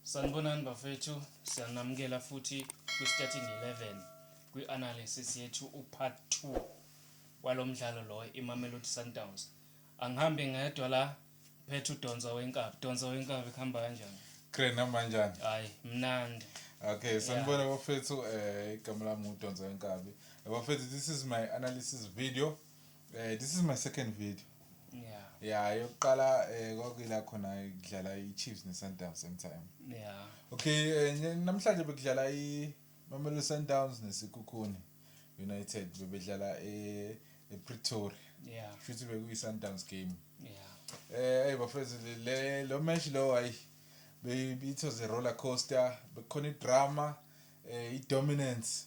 Sanibonani bafethu, siyanamukela futhi kwi Starting 11 kwi analysis yethu u part two walomdlalo lo iMamelodi Sundowns. Angihambi ngedwa la ngiphethe uDonsa wenkabi. Donsa wenkabi kuhamba kanjani? Great noma njani? Hayi mnandi. Okay, sanibona yeah. bafethu eh igama lami uDonsa wenkabi. Bafethu this is my analysis video. Eh this is my second video. Yeah. Yeah, yokuqala eh kwakuyila khona kudlala iChiefs neSundowns same time. Yeah. Okay, eh, namhlanje bekudlala iMamelodi Sundowns neSikhukhuni United bebedlala e ePretoria. Yeah. Futhi bekuyiSundowns game. Yeah. Eh hey bafethu le lo match lo hayi it was a roller coaster bekhona idrama eh idominance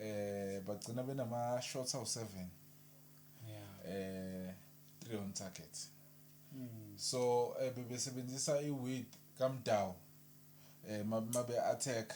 eh bagcina benama shots awu 7 eh 3 on target hmm. so eh, bebesebenzisa i width kamdawu eh mabe attack